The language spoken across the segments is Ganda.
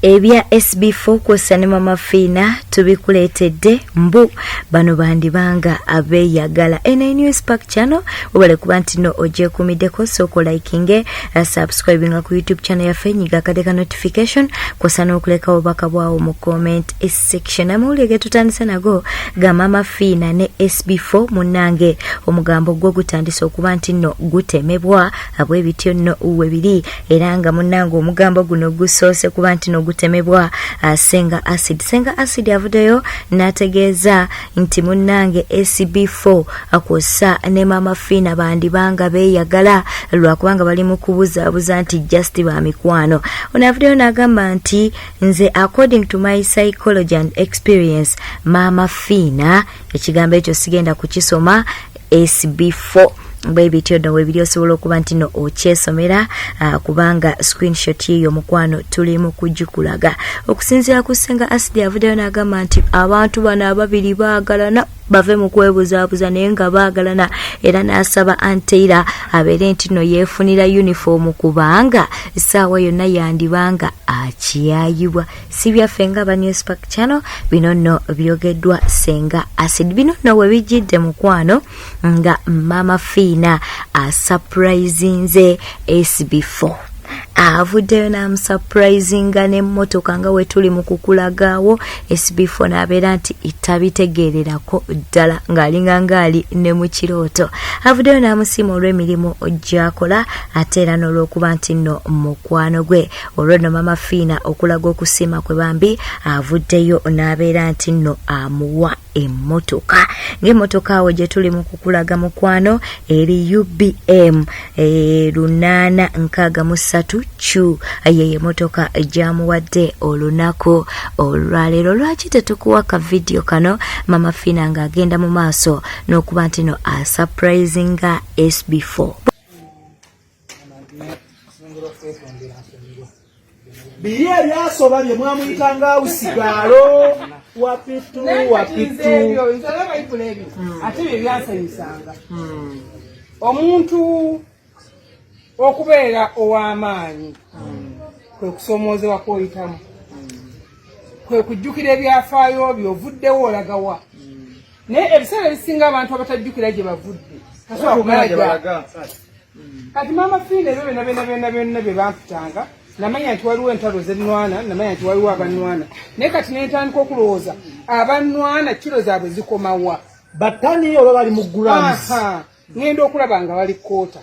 ebya sb4 kwosa ne mama fiina tubikuleetedde mbu bano bandibanga abeyagala nnewspark channel webale kuba nti no ogyekumiddeko sooka olikinge eh, subscribinga ku youtube channel yaffe nyiga akade ka notification kwosa n'okuleka obubaka bwawo mu comment section amawulire getutandise nago ga mama fiina ne sb4 munnange omugambo gwo gutandise okuba nti no gutemebwa abwebityo no webiri era nga munange omugambo guno gusoose kuba nti nogutemebwa uh, senga acid senga acid avudeyo nategeeza nti munange acb4 akwosa uh, ne maama fiina bandibanga beyagala lwakubanga bali mu kubuzaabuza nti just ba mikwano ono avudeyo nagamba nti nze according to my psychology and experience maama fiina ekigambo ekyo sigenda kukisoma sb4 bwe bityo no webiri osobola okuba nti no okyesomera uh, kubanga screenshot yeyo mukwano tuli mu kugikulaga okusinziira ku senga asidi avuddeyo n'agamba nti abantu bano ababiri baagalana bave mu kwebuzaabuza naye nga baagalana era n'asaba anteira abeere nti no yeefunira yunifoomu kubanga essaawa yonna yandibanga akiyayibwa si byaffe nga ba newspark channel bino nno byogeddwa senga acid bino nno we bijjidde mukwano nga maama fiina asupurizinze sb4 avuddeyo n'amusupurizinga n'emmotoka nga we tuli mu kukulagaawo sb4 n'abeera nti tabitegeererako ddala ng'alinga ng'ali ne mu kirooto avuddeyo n'amusiima olw'emirimu gy'akola ate era n'olw'okuba nti nno mukwano gwe olwonno mama fiina okulaga okusiima kwe bambi avuddeyo n'abeera nti nno amuwa emmotoka ng'emmotoka awo gye tuli mu kukulaga mukwano eri ubm eh, lunaana nkaaga mu ssatu q ye emotoka gyamuwadde olunaku olwaleero lwaki tetukuwa ka vidiyo kano mama fiina ng'agenda mu maaso n'okuba nti no asupurizinga sb4 biri ebyasoba bye mwamuyita nga awusigaalo wapitu wapitu ate bye byasanyusanga hmm. omuntu okubeera ow'amaanyi hmm. kwe kusoomoozebwa kwoyitamu kwe kujjukira ebyafaayo byo ovuddewo olagawa naye ebiseera ebisinga abantu abatajjukira gye bavudde kati maama fiina ebyo byona byona byona byona bye bampitanga namanya nti waliwo entalo zenwana namanya nti waliwo abanwana naye kati nentandika okulowooza abanwana kiro zaabwe zikomawa batani oba bali mu grams ngenda okulaba nga bali kota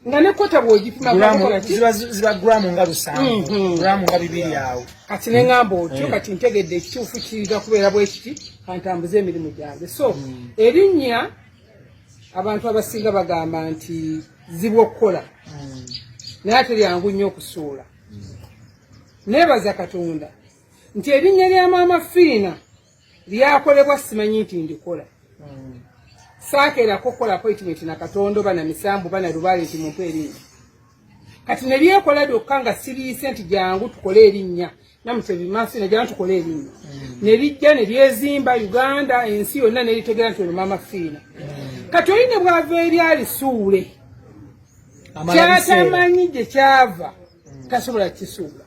nga ne kota bwogipimaziba gramu nga lusanvu mhm. gramu nga bibiri awo kati nengamba otyo eh. kati ntegedde ekituufu kiiga kubeera bwekiti kantambuze emirimu gyange so mm. erinnya abantu abasinga bagamba nti zibu okukola hmm. naye ate lyangu nnyo okusuula nebaza katonda nti erinnya lya maama fiina lyakolebwa simanyi nti ndikola hmm. saakeerako okukola appointment na katonda oba na misambu oba na lubaale nti mumpa erinnya kati nebyekola byokka nga siriise nti jangu tukole erinnya namutebi maso ne jangu tukole erinnya mm. nerijja neryezimba uganda ensi yonna neritegera nti olumama fiina mm. kati oli ne bwava eri alisuule kyatamanyi gye kyava mm. tasobola kisuula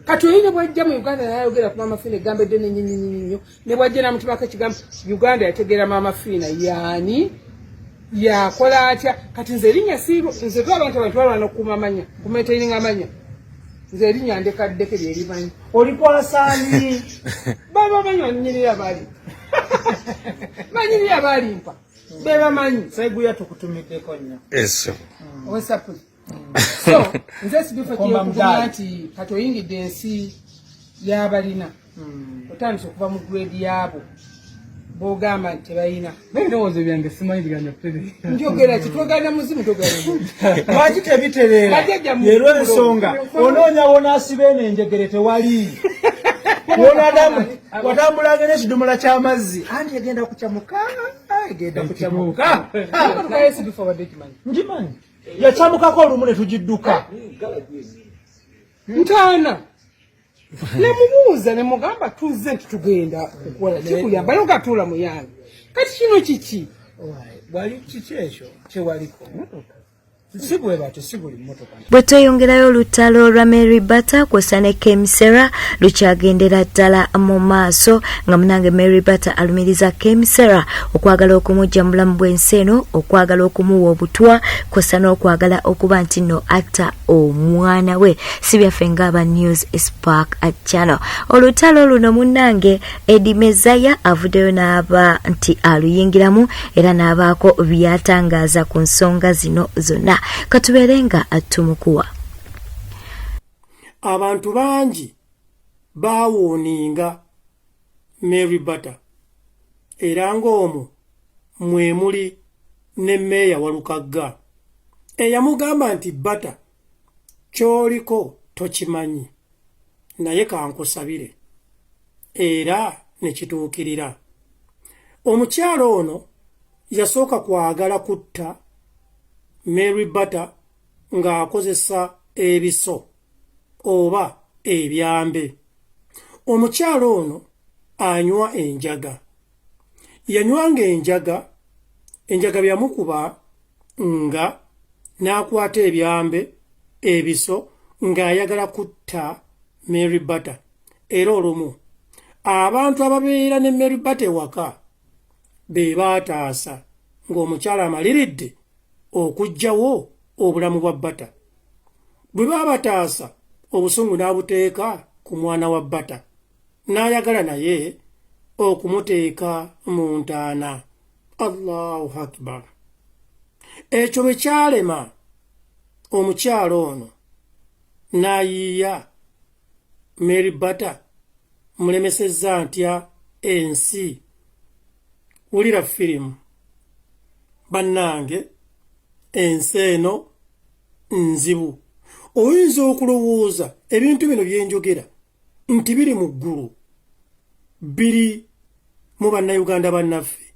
kati oyine bwajja mu uganda nayayogera ku maama fiina egambo edde nenyinyinyinnyo ne bwajja namutumako ekigambo uganda yategeera maama fiina yaani yakola atya kati nze erinya siiro nze tu abantu abantu balwana okukuuma amanya kumaitaininga amanya nze erinya ndekaddeke lyerimanyi olikwasaani baba manyi banyirira bali banyirira balimpa bebamanyi saiguya tukutumiddeko nnyo eso mm. so nze sibifa kiyokugumya nti kati oyingidde ensi yabalina hmm. otandise okuva mu grade yaabo bogamba nti tebalina ebirowoozo byange simanyi biganya pere njogera ki twogana muzimu togana lwaki tebitereera leero ensonga onoonya wonaasiba eno enjegere tewali wonadamu watambulanga n'ekidomola ky'amazzi anti egenda kucamuka egenda kucamuka ngimanyi yacamukako olumu ne tugidduka ntaana nemubuuza nemugamba tuzze nti tugenda kukola kikuyamba naye ogatuula muyange kati kino kiki wali kiki ekyo kyewaliko motoka bwe tweyongerayo olutalo lwa mary bata kwosa ne kemisera lukyagendera ddala mu maaso nga munange mary batter alumiriza kemisera okwagala okumujja mu bulamu bw'ensi eno okwagala okumuwa obutwa kwosa n'okwagala okuba nti no atta omwana we si byaffe ngaaba news spark channel olutalo luno munange edi mezaya avuddeyo n'aba nti aluyingiramu era n'abaako byatangaaza ku nsonga zino zonna katubeere nga tumukuwa abantu bangi baawooninga Mary Bata era ng'omwo mwe muli ne meeya Walukagga eyamugamba nti Bata ky'oliko tokimanyi naye kankusabire era ne kituukirira omukyala ono yasooka kwagala kutta Mary Bata ng'akozesa ebiso oba ebyambe. Omukyala ono anywa enjaga. Yanywanga enjaga, enjaga byamukuba nga n'akwata ebyambe ebiso ng'ayagala kutta Mary Bata era olumu abantu ababeera ne Mary Bata ewaka be baataasa ng'omukyala amaliridde okujjawo obulamu bwa bata bwe babataasa obusungu n'abuteeka ku mwana wa bata n'ayagala naye okumuteeka mu ntaana allahu akbar ekyo bwe kyalema omukyalo ono n'ayiiya Mary Bata mulemesezza ntya ensi wulira firimu bannange ensi eno nzibu oyinza okulowooza ebintu bino byenjogera nti biri mu ggulu biri mu bannayuganda bannaffe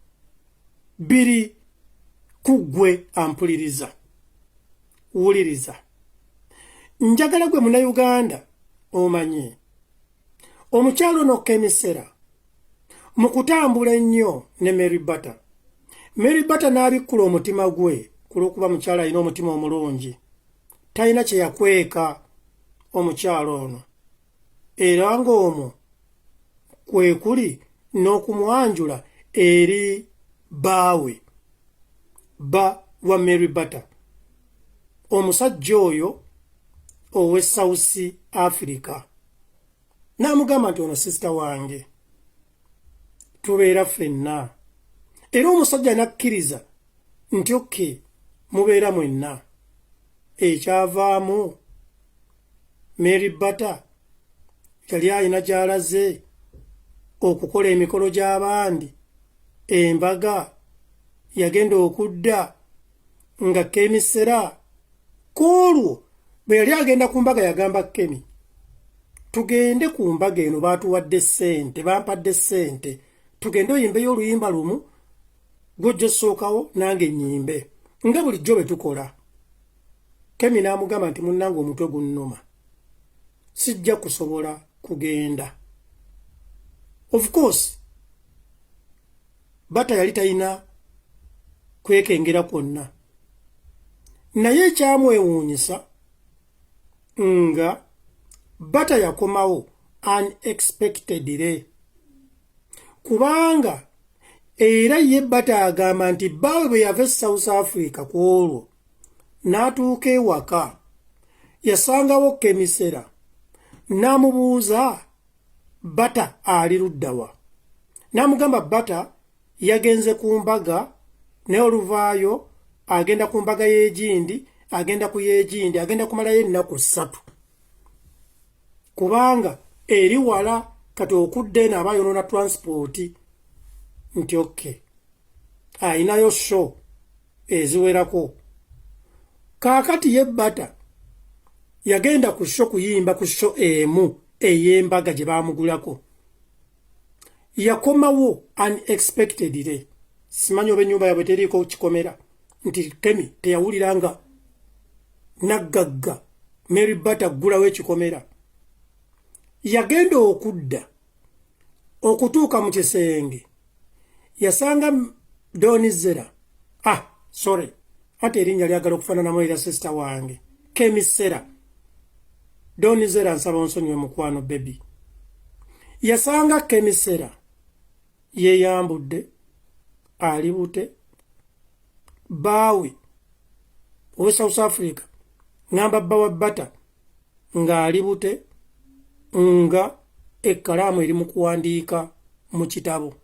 biri ku ggwe ampuliriza wuliriza njagala gwe munauganda omanye omukyalo nokka emisera mu kutambula ennyo ne mary batter mary batter n'abikkula omutima gwe ku lw'okuba mukyalo alina omutima omulungi talina kye yakweka omukyalo ono era ng'omwo kwe kuli n'okumwanjula eri baawe bba wa mary batter omusajja oyo owe south africa n'amugamba nti ono sisita wange tubeera ffenna era omusajja n'akkiriza nti okke mubeera mwenna ekyavaamu mary bata yali alina gyalaze okukola emikolo gy'abandi embaga yagenda okudda nga kemisera ku olwo bwe yali agenda ku mbaga yagamba kemi tugende ku mbaga eno baatuwadde ssente bampadde ssente tugende oyimbeyo oluyimba lumu gwojja osookawo nange nyimbe nga bulijjo bwe tukola kemi n'amugamba nti munnange omutwe gunnuma sijja kusobola kugenda of course bata yali talina kwekengera kwonna naye ekyamwewuunyisa nga bata yakomawo unexpectedly kubanga era ye bata agamba nti bbaawe bwe yava e south africa ku olwo n'atuuka ewaka yasangawo kemisera n'amubuuza bata ali luddawa n'amugamba bata yagenze ku mbaga naye oluvaayo agenda ku mbaga y'egindi agenda ku y'egindi agenda kumalayo ennaku ssatu kubanga eri wala kati okudda eno aba yonona transport nti oke ayinayo show eziwerako kaakati ye bata yagenda ku sho kuyimba ku sho emu ey'embaga gye baamugulako yakomawo unexpectedly simanyi oba enyumba yabwe teriiko kikomera nti kemi teyawulira nga naggagga mary bat aggulawo ekikomera yagenda okudda okutuuka mu kisenge yasanga donizera ah sorry ate erinnya lyagala okufaananamu era sisita wange kemisera donizera nsaba onsonyiwe mukwano bebi yasanga kemisera yeyambudde ali bute baawe owe south africa ngamba bba wa bata ng'ali bute nga ekkalaamu eri mu kuwandiika mu kitabo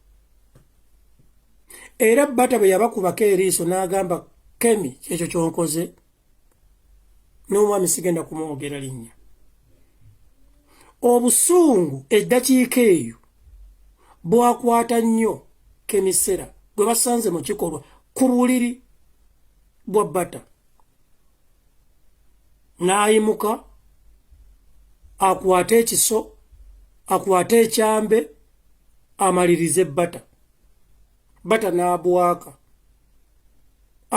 era bata bwe yabakubako eriiso n'agamba kemi kyekyo kyonkoze n'omwami sigenda kumwogera linnya obusungu eddakiika eyo bwakwata nnyo kemisera gwe basanze mu kikolwa ku buliri bwa bata n'ayimuka akwate ekiso akwate ekyambe amalirize bata bata n'abwaka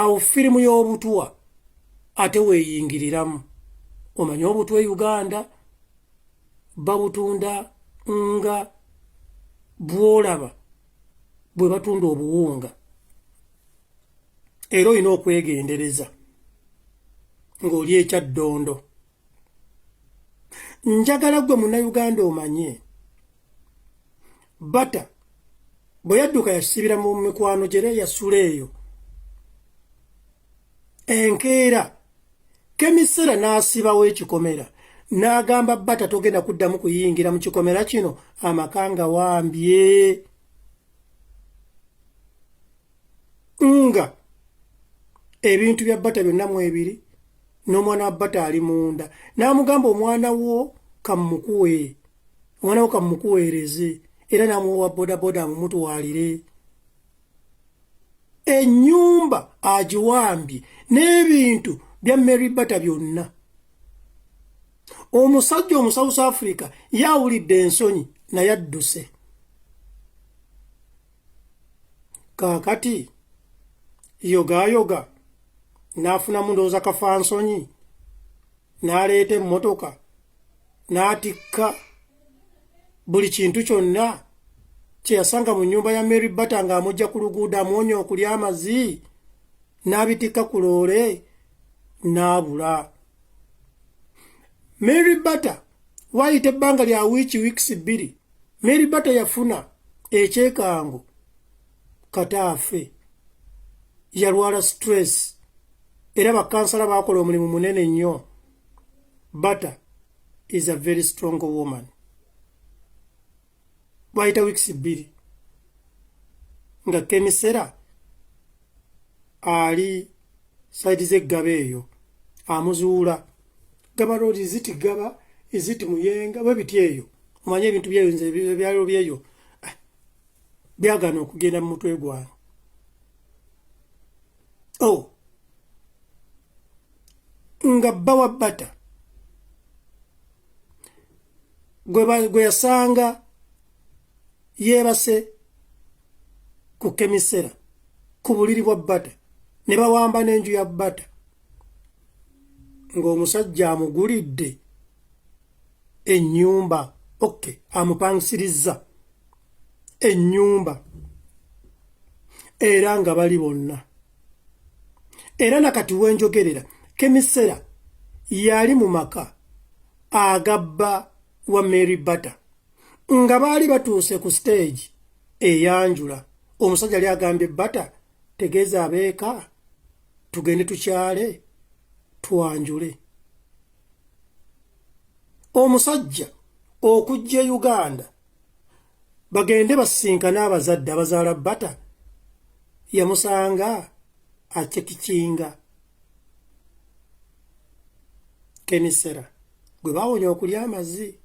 awo firimu y'obutuwa ate weeyingiriramu omanyi obutwa e uganda babutunda nga bwolaba bwe batunda obuwunga era olina okwegendereza ng'oli ekya ddondo njagala gwe munnayuganda omanye bata bwe yadduka yasibira mu mikwano gyere yasula eyo enkeera kemisera n'asibawo ekikomera n'agamba bata togenda kuddamu kuyingira mu kikomera kino amaka nga wambye nga ebintu bya bata byonna mu ebiri n'omwana wa bata ali munda n'amugamba omwana wo kamukuwe omwana wo kamukuweereze era n'amuwa bodaboda amumutwalire ennyumba agiwambye n'ebintu bya mary bata byonna omusajja omusouth africa yawulidde ensonyi naye adduse kaakati yogayoga n'afunamu ndowooza kafansonyi n'aleeta emmotoka n'atikka buli kintu kyonna kyeyasanga mu nyumba ya mary bata ng'amugja ku luguudo amwonya okulya amazi n'abitikka ku loole n'abula mary bata waayita ebbanga lya wiiki wiikisi bbiri mary bata yafuna ekyekango kataafe yalwala stress era bakansala baakola omulimu munene nnyo bata is a very strong woman wayita wiikisi bbiri nga kemisera ali saidi zeggaba eyo amuzuula gaba road iziti gaba iziti muyenga bwe biti eyo omanye ebintu byeyo nze ebyalo byeyo ah, byagana okugenda mu mutwe gwange o oh. nga bba wa bata gwe yasanga yeebase ku kemisera ku buliri bwa bata ne bawamba n'enju ya bata ng'omusajja amugulidde ennyumba oke amupangisiriza ennyumba era nga bali bonna era nakati wenjogerera kemisera yali mu maka agabba wa mary bata nga baali batuuse ku siteegi eyanjula omusajja yali agambye bata tegeeza abeeka tugende tukyale twanjule omusajja okujja e uganda bagende basisinkane abazadde abazaala bata yamusanga acekikinga kemisera gwe bawonya okulya amazzi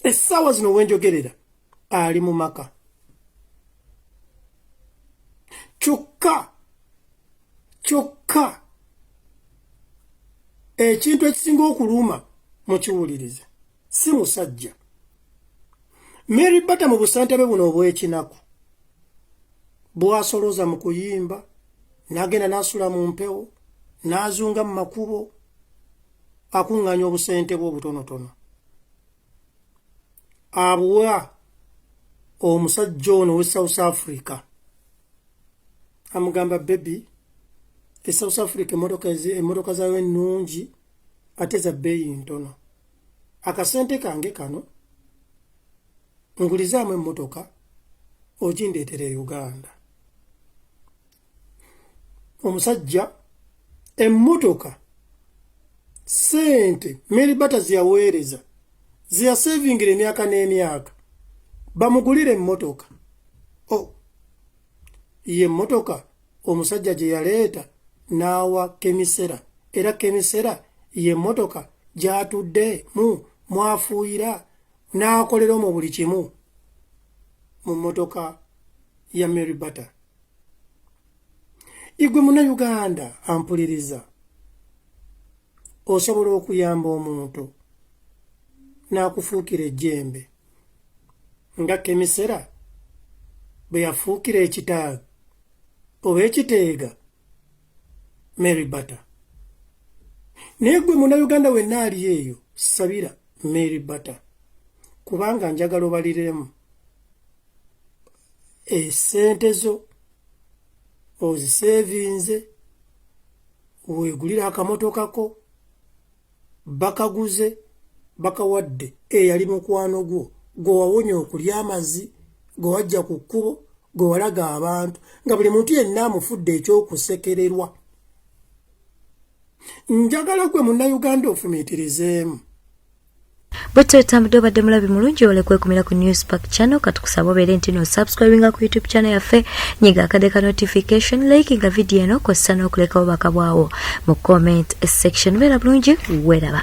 essaawa zino wenjogerera ali mu maka kyokka kyokka ekintu ekisinga okuluma mukiwulirize si musajja mary bata mu busente be buno obw'ekinaku bwasoloza mu kuyimba nagenda nasula mu mpewo nazunga mu makubo akuŋŋanya obusente bwe obutonotono abuwa omusajja ono we south africa amugamba bebi e south africa emotoka zayo ennungi ate za bbeeyi ntono akasente kange kano ngulizaamu emmotoka ogindeetera e uganda omusajja emmotoka sente mary bata zeyaweereza zeyasevingira emyaka n'emyaka bamugulire emmotoka o oh. ye emmotoka omusajja gye yaleeta n'awa kemisera era kemisera ye emmotoka gyatudde mu mwafuuyira n'akolera omu buli kimu mu mmotoka ya Mary Bata igwe muna Uganda ampuliriza osobola okuyamba omuntu n'akufuukira ejjembe nga kemisera bwe yafuukira ekitaaga oba ekiteega Mary Bata naye gwe munauganda wenna ali eyo sabira Mary Bata kubanga njagala obaliremu esente zo oziseevinze weegulira akamotoka ko bakaguze bakawadde eyali mukwano gwo gwe wawonya okulya amazzi gwe wajja ku kkubo gwe walaga abantu nga buli muntu yenna amufudde ekyokusekererwa njagala gwe munnayuganda ofumiitirizeemu bwetyo otambudde obadde mulabi mulungi ole kwekumira ku news park channel katukusaba obeere nti no subscribinga ku youtube channel yaffe nyiga akade ka notification likinga vidiyo eno kossa n'okulekawo bakabwawo mu comment section beera bulungi weeraba